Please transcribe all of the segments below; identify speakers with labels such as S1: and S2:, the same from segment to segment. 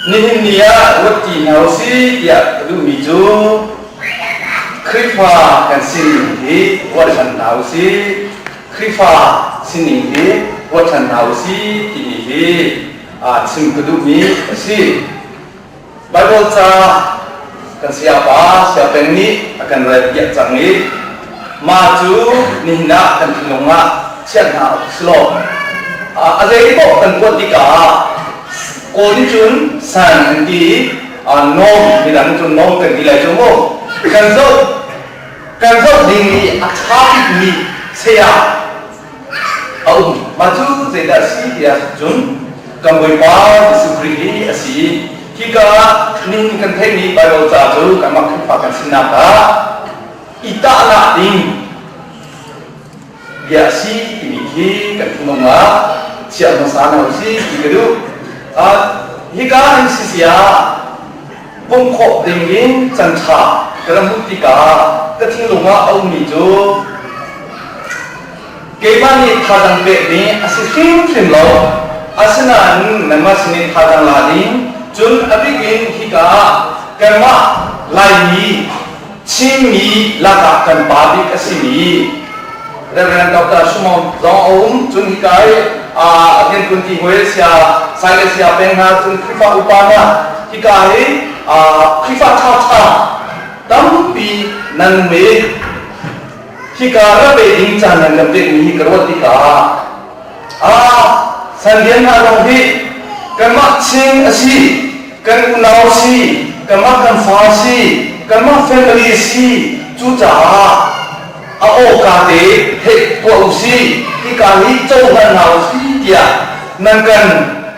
S1: Nihin ni ah ruat ti hna u si tiah ka duhmi cu Khrihfa kan sining hi ruat ṭhan hna u si. Khrihfa sining hi ruat ṭhan hna u si timi hi aa chim ka duhmi a si. Baibal ca kan sayapa Sia Peng nih a kan relpiak cang i mah cu nihin ah kan thinlung ah chiah hna awk si lo. A zeipaoh kan kuat tikah kawl nih cun san an ti i nom midang cun nom kan ti lai cu mu. Kan zoh kan zoh ding i a ṭha bikmi saya a um. Mah cu zeidah a si tiah cun kan Bawipa Jesuh Khrih hi a si. Hika nihin kan theihmi Baibal ca cu kanmah Khrihfa kan sinak ah i tahnak ding bia a si timi khi kan thinlung ah chiah hmasa hna u sih ti ka duh. Uh, hika in si sia um khawh dingin can ṭha ka ra hmuh tikah ka thinlung ah a ummi cu keimah nih thazang pehmi a si hrimhrim lo asinain nanmah sin i thazang la ding cun a bik in hika ah kanmah laimi Chinmi lakah kan pa bik a simi Reverend Dr. Shumong zong a um. Cun hika i Ngen Kun Ti Hwe sia, Saile sia peng hna, cun Khrihfa upa hna, hika hi Khrihfa ṭhaṭha tampi nan me. Hika ra ve ding caan nan kan pekmi hi ka ruat tikah Ah, sal lian hna lawng hi kanmah ching a si, kan unau si, kanmah kan fa si, kanmah family si, cucaah a awka te heh tuah u si, hika hi cohlan hna u si tiah nan kan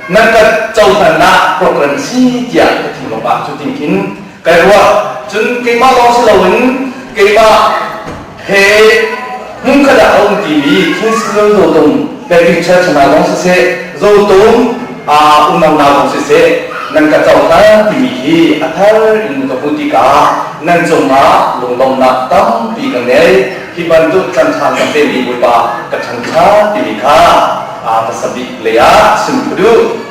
S1: nan kan cohlannak program si tiah ka ti lawmah cu tin khin Kai ruah. Cun keimah lawng si loin keimah he hmun khat ah a um timi King Crimson Zotum Pepin Church hna lawng siseh, Zotum ah unau hna lawng siseh, nan ka cohlan timi hi a thar in ka hmuh tikah nan cungah lunglawmhnak tampi ka ngei. Hi bantuk ṭhanṭhan ka pemi Bawipa ka ṭhangṭhat timi kha a hmasa bik lei ah chim ka duh.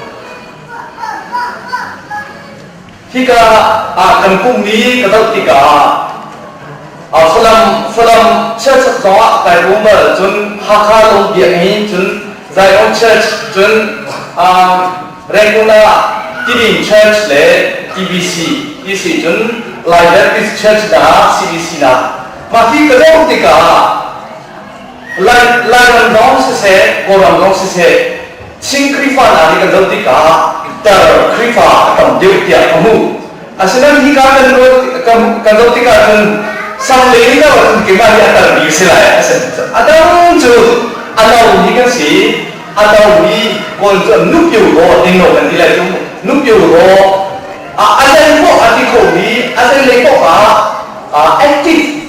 S1: Hika ah kan pummi ka doh tikah Falam, Falam chiaset zongah kai ruang bal cun Hakha lawng biakmi cun Zion Church cun Rengkuna Tibing Church le TBC ti cun Lai Baptist Church hna CBC nak mah hi ka doh tikah Lai Lairam lawng siseh Kawlram lawng siseh Chin Khrihfa hna nih kan zoh tikah tar Khrihfa a tam deuh tiah ka hmuh. Asinain hika kan, kan, kan zoh tikah cun salle in lo cun keimah hi a tarmi si lai a si. A dang cu a lomi kan si. A lomi Kawl cu nupio raw ding lo kan ti lai cu. Nupio raw a adan khawh a ti khomi a zenlei paoh ah active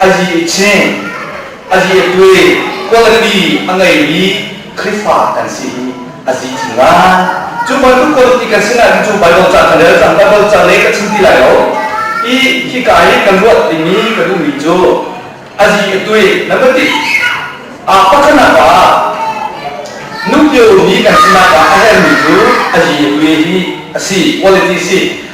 S1: Azi i ching, azi i tui, quality a ngeimi Khrihfa kan si hi a zi chin lai. Cu bantuk quality kan si nain cu Baibal caan ka rel cang, Baibal cang le ka chim ti lai lo. I hika i kan ruah dingmi ka duhmi cu azi i tui number ti aa pakhanak ah nukio mi kan sinak ah a herhmi cu azi i tui hi a si, quality si.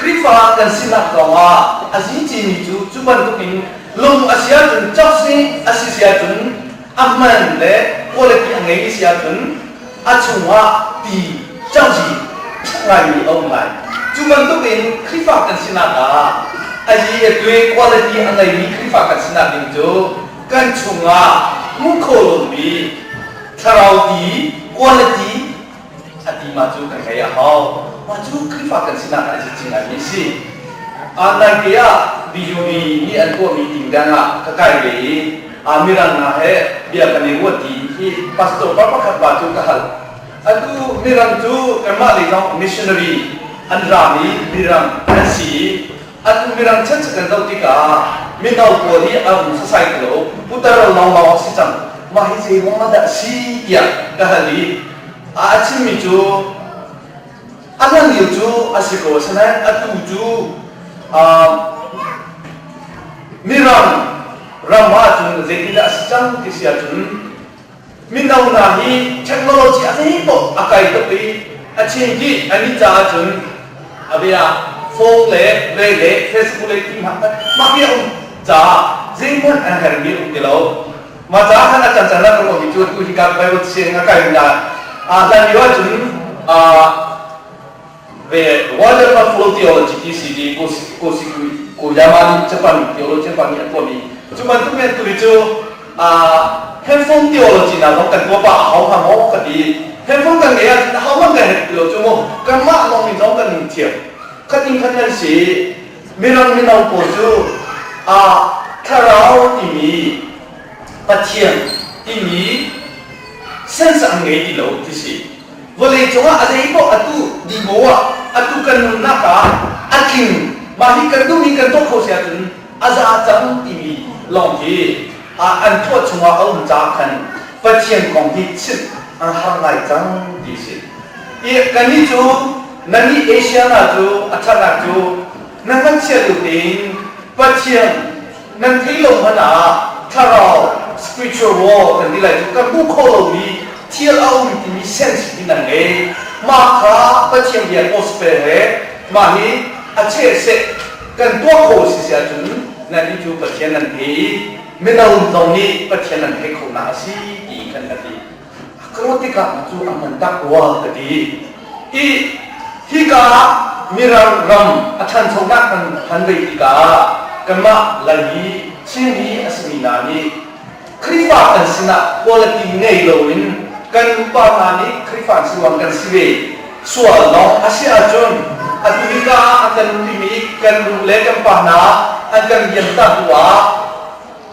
S1: Khrihfa kan sinak zongah a si cimi cu cu bantukin lung a si ahcun chawksni a si si ahcun a man le quality a ngeimi si ahcun a chungah ti cangci ngaimi a um lai. Cu bantukin Khrihfa kan sinak ah a hi le tue quality a ngeimi Khrihfa kan sinak ding cu kan chungah hmuhkhawhlawmmi thlarau ti quality a tima cu kan ngei a hau. Mah cu Khrihfa kan sinak ah a cit cing ngaimi a si. Aa naite ah BUB nih an tuahmi ting dengah ka kai ve i aa mirang hna he bia kan i ruah tiin hi pastor pa pakhat ba cu ka hal. Atu Mirang cu kanmah lei zong missionary an raam i Mirang an si i Atu Mirang chan cu kan zoh tikah mino pawl hi a um society lo putar lawngmang a si cang. Mah hi zeiruangah dah a si tiah ka hal i a chimmi cu a hlan lio cu a si ko asinain atu cu um, Mirang ram ah cun zeitindah a si cang ti si ahcun Mino hna hi technology a nih tuk a kai tuk i a chin dih an nih caah cun a bia phone le ve le Facebook le ti hna mah hi a um caah zeihmanh an hermi um ti lo mah caah khan a can can rak ruah mi cu tu hi ka Bible siang a kai na a hlan lio ah cun ve waterfront full theology TCD Kuyama nih Japan theology Japan nih a tuahmi cu bantuk men tu hi cu handful theology na vong kan tuah pa a hau hnga maw ka ti handful kan ngei ah hau man kan het lo cu mu kan mah lawng in zong kan in thiam khat in khat nan si mirang mino pawl cu a thlarau timi pathian timi sense an ngei ti lo ti si Vawlei cungah a zeimaw atu dimo ah atu kan nunnak ah a tling mah hi kan duh hi kan tuah kho si ahcun a za cang timi lawng hi an tuah chungah a um caah khan Pathian kong hi chimh an har ngai cang ti si i kannih cu nannih Asia hna cu a ṭhana cu na hngatchia lio tein Pathian nan theih lo hmanh ah thlarau spiritual war kan ti lai cu kan hmuh khawh lomi thil a um timi sensitive nan ngei mah kha Pathian bia gospel he mah hi a cheh seh kan tuah kho si si ahcun nan hi cu Pathian nan hei i mino zong nih Pathian nan hei kho hna a si ti kan ka ti. Ka rat tikah cu an van tak rua ka ti. I hika ah Mirang ram a ṭhanchonak kan han vei tikah kanmah Lai mi, Chin mi a simi hna nih Khrihfa kan sinah quality ngei loin kan upa hna nih Khrihfa siloang kan si ve sual lawng a si ahcun atu hika ah an kan umṭimi kan nu le kan pa hna an kan liamtak bu ah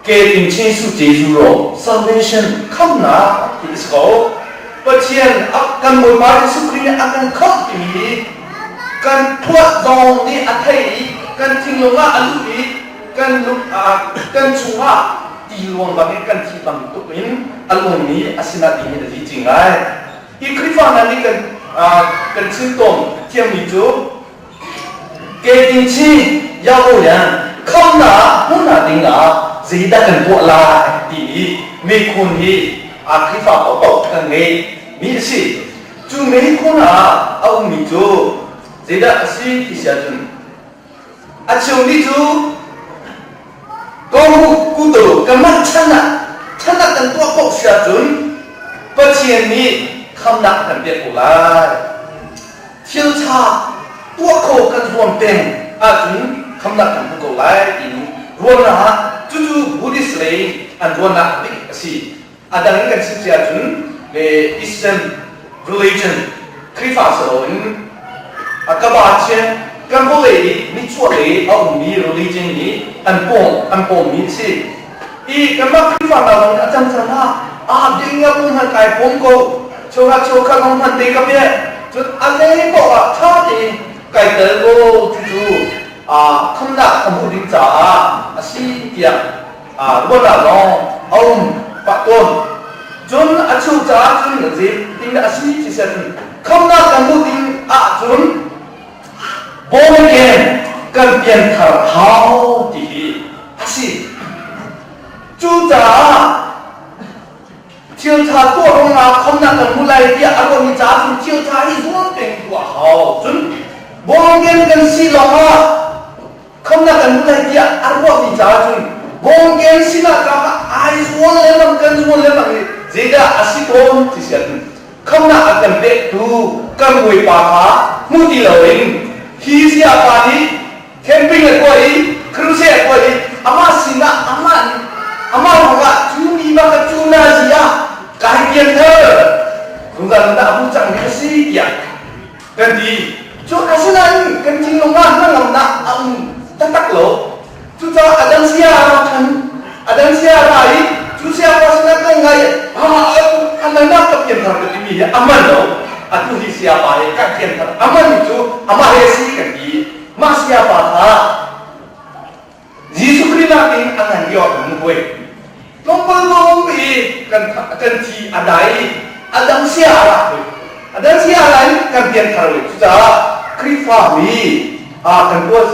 S1: Ketin Jesuh Jesuh lawng salvation khamnak ti a si ko. Pathian a kan Bawipa Jesuh Khrih nih a kan khamh timi kan phuah zong nih a thei i kan thinlung ah a lut i kan lung ah kan chungah ti luangbang in kan thih bantuk in a lungmi a sinah ti hin a dih cing lai. Hi Khrihfa hna nih kan kan thil tawn thiammi cu Kei thi Yaku le khamnak hmuh nak ding ah zeidah kan tuah lai ti i mikhun hi a Khrihfa paoh kan ngei mi a si. Cu mikhun ah a um mi cu zeidah a si ti si ahcun a chung ni cu Ko u, kuto, ka mah chan ah chan ah kan tuah paoh si ahcun Pathian nih khamnak kan pek ko lai. Thil ṭha tuah khawh kan huam peng ahcun khamnak kan hmu ko lai timi ruahnak ah cucu Buddhist lei an ruahnak bik a si. A dang in kan chim cia cun Eastern religion Khrihfa si loin a kabacian kan vawlei i nichuah lei a ummi religion i an pawng an pawmmi si i kanmah Khrihfa hna zong a cang cang hna aa ding nga bu hmanh kai pawm ko chunga chawkha zong hman te ka bia cun a lei paoh ah ṭha tein kai tel ko ti cu khamnak a hmuh ding caah a si tiah ruat ah lawng a um pah tawn cun a chuh caah cun a zit ti a si thisen khamnak kan hmuh ding ahcun born again kan pianthar hau ti hi a si cucaah thiltha tuah ruangah khomnak kan hmuh lai tiah a ruahmi caah cun thiltha hi zuam peng tuah hau cun born again kan si lawngah Khamnak kan hmuh lai tiah an ruahmi caah cun bawmkeng sinah kaa ai zuam lengmang kan zuam lengmang i zeidah a si tawn ti si ahcun khamnak a kan pektu kan bawipa kha hmu ti loin hi sayapa nih camping a tuah i crusade a tuah i amah sinah amah nih amah ruangah cu mi bak a cu na zi ah kai pianter rungzan dah a hmu cangmi a si tiah kan ti. Cun asinain kan thinlung ah hnangamnak a um taktak lo. Cucaah a dang saya ra ṭhan, a dang saya ra i cu saya pa sinah kan ngai, a nganah ka pianthar ka timi hi a man lo. Atu hi saya pa he kan pianthar, a man cu amah he si kan ti. Mah saya pa kha Jesuh Khrih nakin a ngan i awk in buai. Tlawmpal lawng i kan kan thi a dai i a dang sia lah a dang sia lah in kan pianthar le cucaah Khrihfa mi kan tuah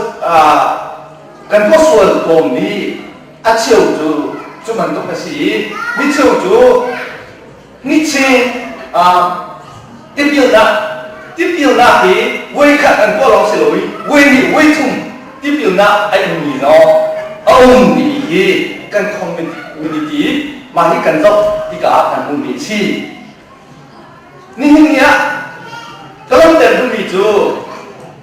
S1: kan tuah sual kawm i a cheu cu cu bantuk a si i mi cheu cu Hniche tipilnak tipilnak hi voikhat an tuah lawng si lo i voi hnih voi thum tipilnak a ummi lawng a um timi hi kan community mah hi kan zoh tikah ah kan hmuhmi a si nihin ni ah ka langhter duhmi cu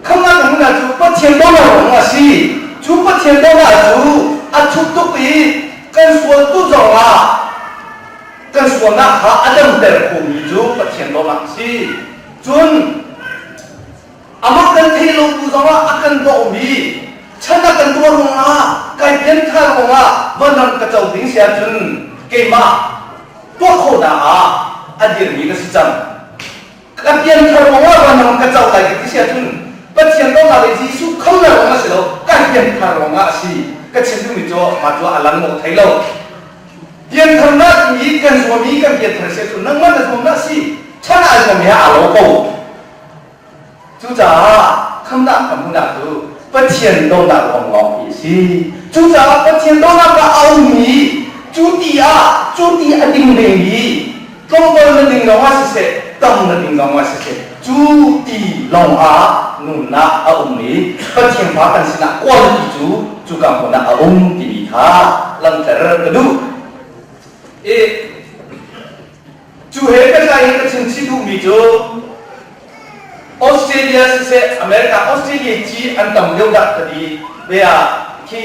S1: Khamah na hmuhnak cu Pathian dollar kong a si. Cu Pathian dollar cu a thuk tuk i kan sualtu zong ah kan sualnak kha a damter khomi cu Pathian dollar a si. Cun amah kan theih lo bu zong ah a kan dohmi chan a kan tuah ruangah kai pianthar kongah vanram ka co ding si ahcun keimah tuah khawhnak ah a dirmi ka si cang. Ka pianthar kongah vanram ka co lai ka ti si ahcun Pathian dawtnak le Jesuh khonak zong a si lo, kan pianthar ruangah a si. Ka chim duhmi cu mah cu a lang lo thai lo. Piantharnak mi kan zuammi kan pianthar si ahcun nangmah na zuam dah si, ṭhan ah zuam he aa lo ko. Cucaah khamhnak kan hmuhnak cu Pathian dawtnak ruang lawnghi a si. Cucaah Pathian dawtnak ah a ummi, cu ti ah, cu ti a ding vemi, tlawmol na ning lawngah siseh, tam na ning lawngah siseh, cu ti lawngah nunnak a um i Pathian pa kan sinah quality cu cuka hmun ah a um timi kha langhter ka duh. I cu he ka tlai in ka chimchih duhmi cu Australia siseh America Australia ci an tam lio dah ka ti ve ah khi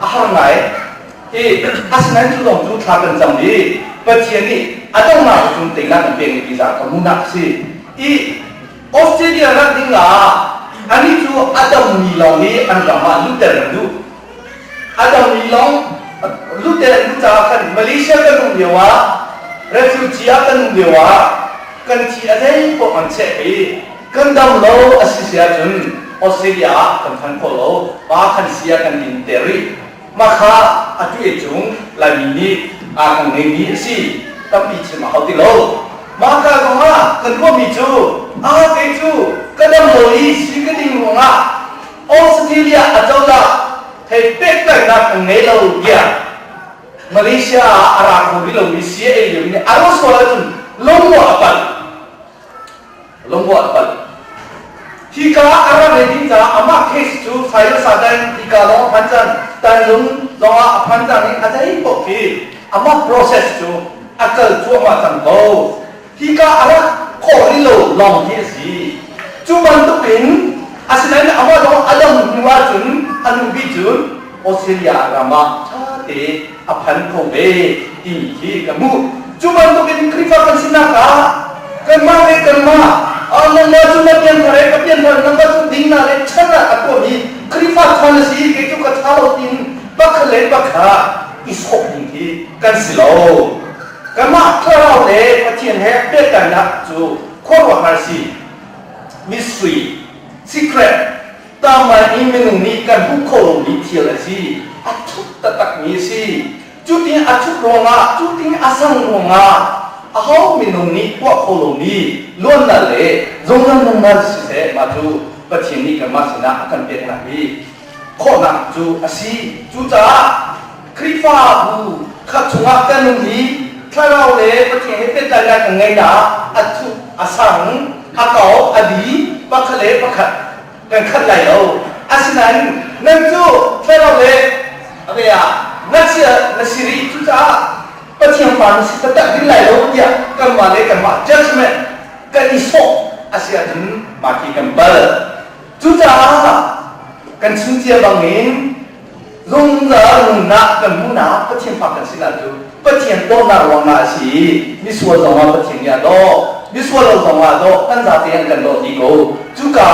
S1: a har ngai. Hi asinain cu zong cu thla kan cam i Pathian nih a donghnak cu tengah kan pek mi za ka hmuhnak a si. I Australia rat ding ah anih cu a dammi lawng i an ram ah lutter an duh. A dammi lawng lutter an duh caah khan Malaysia kan um lio ah refugee ah kan um lio ah kan thi a zei paoh an cheh i Kan dam lo a si si ahcun Australia ah kan phan kho lo. Pa kan si ah kan in ter rih. Mah kha a tueh cung Laimi nih aa kan ngeimi a si. Tampi chim a hau ti lo. Mah ka kong ah kan ruahmi cu a kei cu ka dam lo i si ka ding ruang ah Australia acozah thei pehtlaihnak kan ngei lo tiah Malaysia ah a ra kho rih lomi CIA lio nih a rak sual ahcun lungruah a palh. lungrual panh. Hi ka a ra ve ding caah amah case cu Sayil Satan hi ka lawng phan cang tanlung zong ah a phan cang i a zei paoh khi amah process cu a kal cuahmah cang ko. Hi ka a ra khawh rih lo lawng hi a si. Cu bantuk in asinain amah lawng a dam hnu ahcun a nu bi cu Australia ram ah ṭha te a phan ko ve timi khi ka hmuh cu bantukin Khrihfa kan sinak ah kanmah le kanmah Allah cu na pian thar ka pian thar nangmah cu ding na le chan ah a tuam hi Khrihfa chan a si kei cu ka tha lo tin pakhat le pakhat i sok ding khi kan si lo kanmah thlarau le Pathian he pehtlannak cu khuaruahhar si mystery secret Tanglain i minung nih kan hmuh khawh lomi thil a si. A thup taktakmi a si. Cutin a thup ruangah, cutin a sang ruangah aho minung nih tuah kho lomi luannak le zungzal nunnak siseh mah cu Pathian nih kanmah sinah a kan peknak hi khawhnak cu a si. Cucaah Khrihfabu kha chungah kan um i thlarau le Pathian he pehtlaihnak kan ngei ah a thuk a sang, a kau, a bi, pakhat le pakhat kan khat lai lo. Asinain nan cu thlarau le a be ah na si na si rih, cucaah Pathian fa na si taktak ding lai lo tiah kanmah le kanmah judgment kan i sawh a si ahcun mah khi kan pal. Cucaah kan chim cia bangin Zungzal nunnak kan hmuhnak Pathian fa kan si lai cu Pathian dawtnak ruangah a si i misual zongah Pathian nih a daw, misual lo zongah a daw, kan zate an kan daw ti ko. Cuka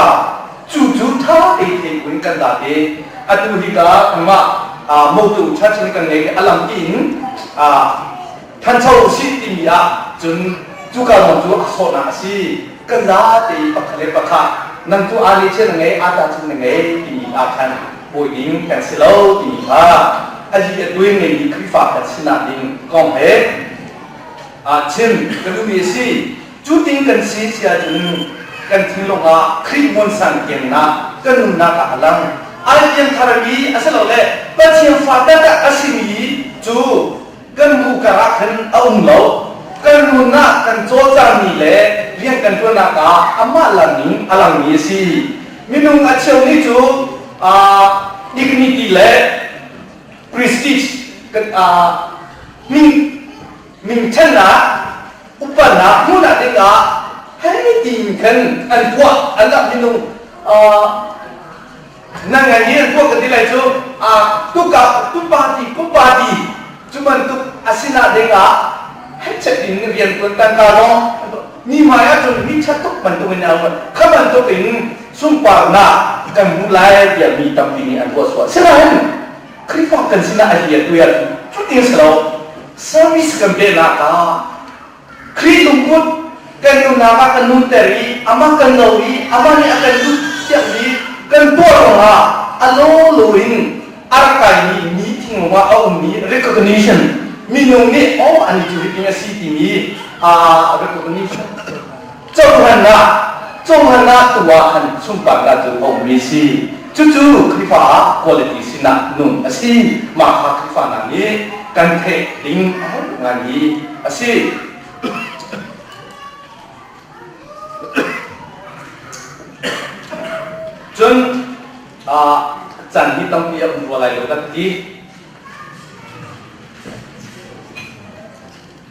S1: cu cu ṭha tein buin kan zat i atu hika nangmah moktu church nih kan ngeih i a lang tiin Thancho usih timi ah cun cu kal zong cu a sawhnak a si. Ka za te i pakhat le pakhat nang cu aa ngeihchiat na ngei, aa tahchunh na ngei timi ah khan bawi ding kan si lo timi kha a li a tuai ngeimi Khrihfa kan sinak ding kong he aa chim ka duhmi a si. Cu ting kan si si ahcun kan thinlung ah Khrih muansang kiangnak kan nunnak ah a lang. Ai lian tharmi asilole Pathian fa taktak a simi cu kan bu karah khan a um lo. Kan nunah kan cawlcangmi le rian kan ṭuannak ah amah lang in a langmi a si. Minung a cheumi cu uh, dignity le prestige uh, min, minthannak upatnak hmuhnak dingah hei tiin khan an tuah annak minung uh, nan ngai ni an tuah ka ti lai cu a tuka tu party kum party cu bantuk a sinak ding ah hechet in rian tuan tangka maw ni mai ah cun mi chat tuk bantuk in an kha bantuk in sunparnak kan hmu lai tiah mi tampi nih an ruah suwa sinain Khrihfa kan sinah a hiya tuyan cutin si lo service kan pehnak ah Khrih lungput kan nunnak ah kan nunter i amah kan lo i amah nih a kan duhthiammi kan tuah ruangah a lawlaw in a rak kaimi mi thinglung ah a ummi recognition minung nih oh ani cu hitin a si timi recognition Cohlan ah, cohlan ah tuah an sunparnak cu a ummi si. Cucu Khrihfa ah quality sinah nung a si. Mah kha Khrihfa hna nih kan theih ding a herh ngaimi a si. Cun ah can hi tampi a um rual lai lo kan ti.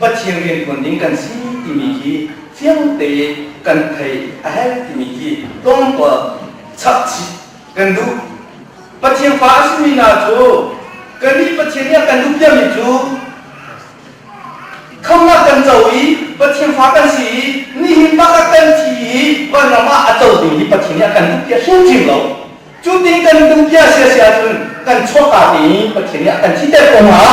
S1: Pathian rianṭuan ding kan si timi hi fiang tein kan theih a herh timi hi tlawmpal chapchih kan duh. Pathian fa a simi hna cu kannih Pathian nih a kan duh diam mi cu khamhnak kan co i Pathian fa kan si i nihin bakah kan thi i vanram ah a co ding hi Pathian nih a kan duh bia hrimhrim lo. Cu tin kan duh bia siasiah cun kan chuahka te i Pathian nih a kan thihter ko hna.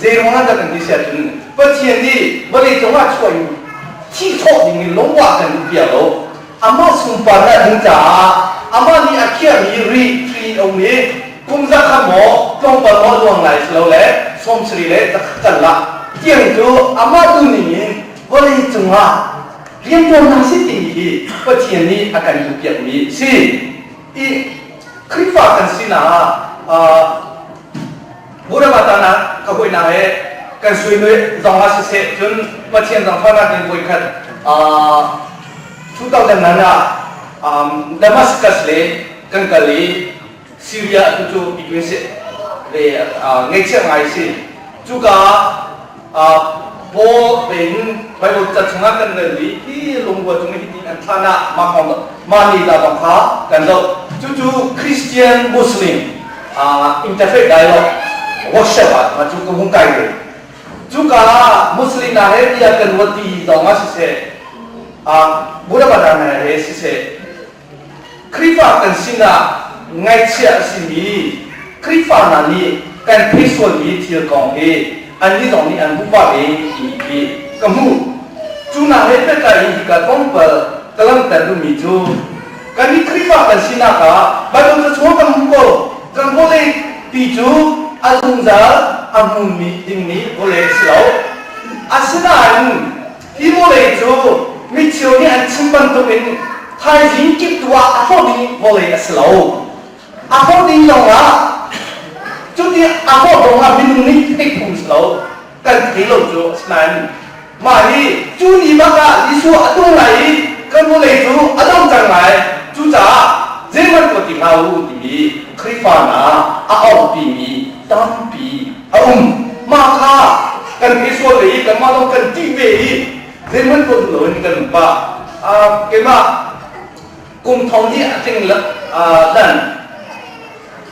S1: Zeirona kan ti siah cun Pathian nih vawlei cungah chuah in thi thawh dingin lungvah kan duh piak lo. Amah sunparnak ding caah amah nih a khiahmi ri hri in a um i kum za khat maw tlawmpal maw luang lai silole sawmsarih le za khat karlah tiang cu amah tu ningin vawlei cungah rianṭuannak si timi hi Pathian nih a kan duhpiakmi a si. I Khrihfa kan sinak ah Murabbatana ka hoihna he kan suinu zong ah siseh cun Pathian zong thawnak in voi khat 2009 ah Damascus le kan kal i Syria tu cu i tu si ve ngeihchiah ngai si cuka Paul tein Baibal ca chungah kan ngei i hi lungrual cung hi an thlan ah mah ni la bang kha kan lo. Cucu Christian Muslim interfaith dialogue workshop ah ma cu ka hung kai ve. Cuka ah Muslim hna he bia kan ruat ti zong ah siseh, Buddha Padana he siseh, Khrihfa kan sinah ngaihchia a simi Khrihfa hna nih kan theih sualmi thil kong hi annih zong nih an hmuh pah ve timi khi ka hmuh. Cu hna he pehtlai in hika kongpal ka langhter duhmi cu kan nih Khrihfa kan sinak ah Baibal cachuak kan hmu ko. Kan vawlei ti cu a zungzal a hmunmi dingmi vawlei a si lo. Asinain Hi vawlei cu micheu nih an chim bantukin thaizing kiptu ah a hlawt i vawlei a si lo. A hlawt ding zongah cuti a hlawt zongah minung nih theih phung si lo kan thei lo cu a si nain mah hi cu ni bak ah Jesuh a tung lai i kan vawlei cu a dong cang lai cucaah zeihmanh tuah ti hlah u timi Khrihfa hna a orhpimi tampi a um mah kha kan pe sual ve i kanmah zong kan ṭih ve i zeihmanh tuah duh loin kan pa keimah kum thong hnih a tling dan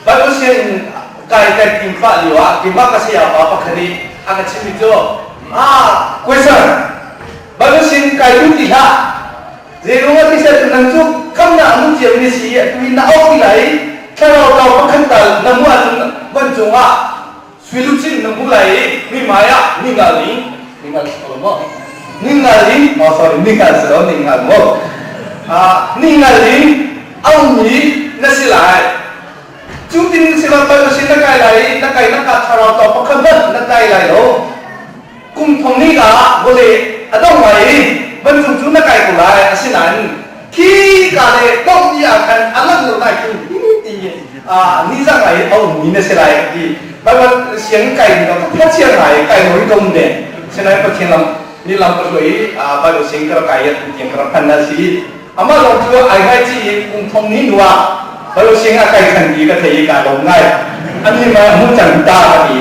S1: Bible sianginn kai kan tim pah lio ah keimah ka saya pa pakhat nih a ka chimmi cu ah question Bible sianginn kai tu ti hlah Zeiruang ah ti ser tu nang cu khamnak a hmun ciami na si i atu hi na auh ti lai i thlarau tlau pakhat tal na hmuh ahcun van cungah suilup sin na hmuh lai i mi hmai ah ningal ning ningal si ko maw? Ningal in, oh sorry, ningal si lo, ningal maw? Ah, ningal in a ummi na si lai. Cu tin si lo pal sin na kai lai i na kai na ka thlarau tlau pakhat hmanh na tlai lai lo. kum thong hnika ah vawlei a dong lai i van cung cu na kai ko lai asinain khika le dongh ni ah khan a langh lo lai cun tiin nizang lai a ummi na si lai ka ti Bible siang kai ni lam pathian ngai kai lo dom ne sinai pathian lam ni lam ka hloi Bible siang kar kai at tiang kar phan na si ama long chu ai ngai chi in kum thong ni nuwa Bible siang a kai khan ti ka thei ka lom ngai ani ma mu chang ta ka ti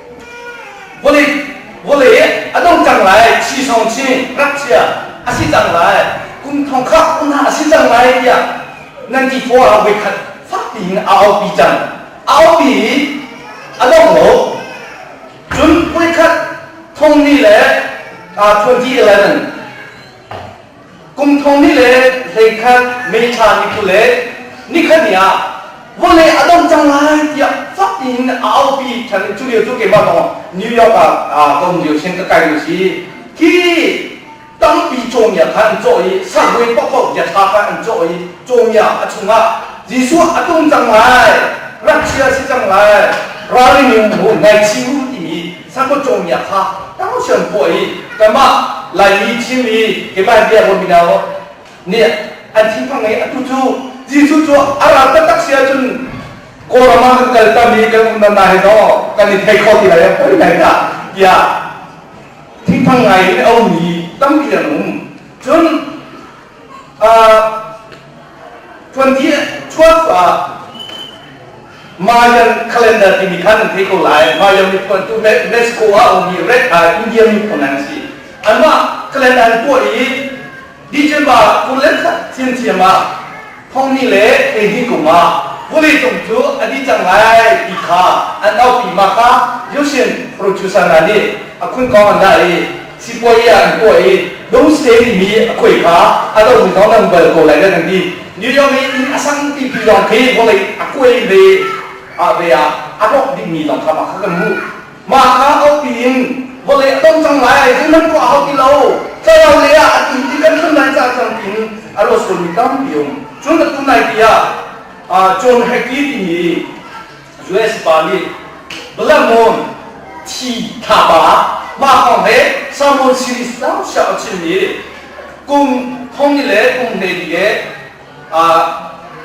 S1: Vawlei, vawlei a dong cang lai, chisawng chin, ngakchia a si cang lai, kum thongkhak u hna a si cang lai tiah 94 ah voikhat fak piin a aupi cang. A aupi i a dong lo. Cun voikhat thongni le uh, 2011 Kum thong ni le hleikhat meṭha ni phu le nikhat ni ah vawlei a dong cang lai tiah fak in a aupi ṭhan cu lio cu keimah lawng New York ah aa kom lio sin ka kai u si hi tampi cawmia kha an cawh i sagui pakok bia ṭha kha an cawh i cawmia a chungah Jesuh a tung cang lai ngakchia si cang lai ralring u ngaiching u timi Sangkut cawngmia kha tangsiam khawh i kanmah Laimi Chinmi keimah biakawh Minao nih an thinphang i atu cu Jesuh cu a ra taktak si ahcun Kawlram ah kan kal tam i kan um nan nai law kan i thei kho ti lai a poi lai dah tiah thinphang ngai in a ummi tampi an um cun 2012 ah Mayan calendar timi kha nan thei ko lai Mayan miphun tu UNESCO ah ummi red eye India miphun nan si anmah calendar tuah i December kul le khat thiam thiam ah Thawngnih le hleihnih kum ah vuleitung cu a dih cang lai ti kha an auhmi Maka Yusin Rochusana nih a khun kong an lah i sipuai ah an tuah i Dungsteni mi a khuai kha a domi zong nan bal ko lai da nan ti. New York i inn a sang pipi lawng khi vawlei a kuai ve ah ve ah a rawk dingmi zong kha mah kha kan hmuh. Mah kha aupi in vawlei a dong cang lai, an ram pawh a hau ti lo, thlarau lei ah a tun ti kan hrem lai ca cang tiin a rak surmi tampi um. Cun atu naite ah John Hackey timi US pa nih Blamon thi thlapa mah kong he sermon series tam siang a chimmi kum thongni le kum hleili he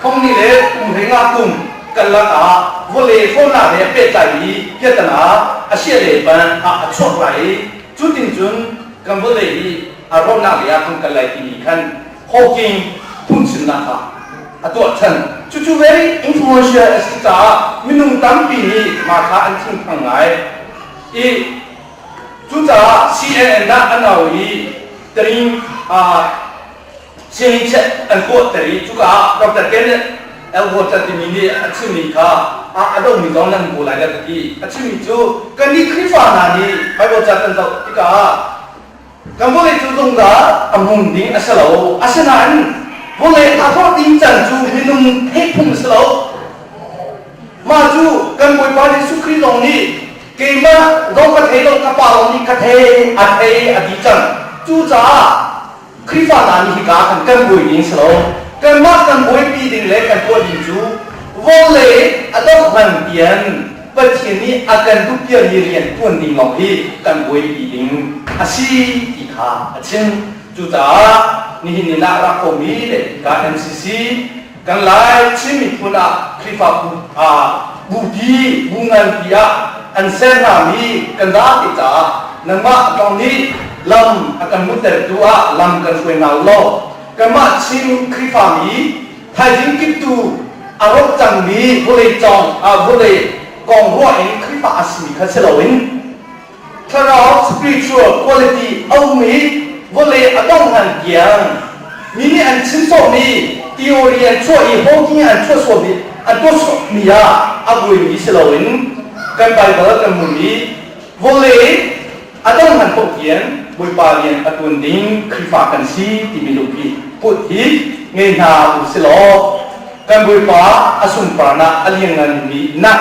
S1: Khongni le Kumhlei nga kum karlak ah vawle hrawlnak he pehtlaimi piatana asiah le ban ah a chuak lai i cu tin cun kan vawlei hi a rawhnak lei ah kan kal lai timi khan Hawking phungchimnak kha a tuahchan. Cucu very influential a si caah minung tampi nih mah kha an thinphang ngai i cucaah CNN dah an au i Terim Siahichiah an huahter i cuka ah Dr. Kenneth Elhotter timi nih a chimmi kha a dongmi zong nan kawl lai ka ti. A chimmi cu kannih Khrihfa hna nih Baibal ca kan zoh tikah ah kan vawlei cu zungzal a hmun ding a si lo. Asinain vawlei a forh ding can cu minung thehphung a si lo. Mah cu kan Bawipa Jesuh Khrih zong nih keimah zong ka thei lo ka Pa zong nih ka thei a thei a ti cang. Cucaah Khrihfa hna nih hika an kan bawi ding si lo, kanmah kan bawipi ding le kan tuah ding cu vawlei a doh ngan pian Pathian nih a kan duh piami rian ṭuan ding lawng hi kan buaipi ding a si ti kha a chim. Cucaah nihin ni ah rak kawmi le hika NCC Kan Lai Chin miphun ah Khrihfabu hna bupi bu nganpi ah an ser hngami kan date caah nangmah kong nih lam a kan hmuhtertu ah lam kan hruai hna u law kanmah Chin Khrihfami thaizing kip tu a rawk cangmi vawlei cawng, vawlei kong ruah in Khrihfa a simi kha si loin thlarau spiritual quality a um i vawlei a dongh hlan tiang mi nih an chim sawhmi theory an chuah i hoking an chuah suami an tuah suahmi ah a buaimi si loin kan Baibal kan hmuh i vawlei a dong hlan paoh tiang Bawipa rian a tuan ding Khrihfa kan si timi lungpi put hi ngei hna u si law kan Bawipa a sunparnak a liannganmi nak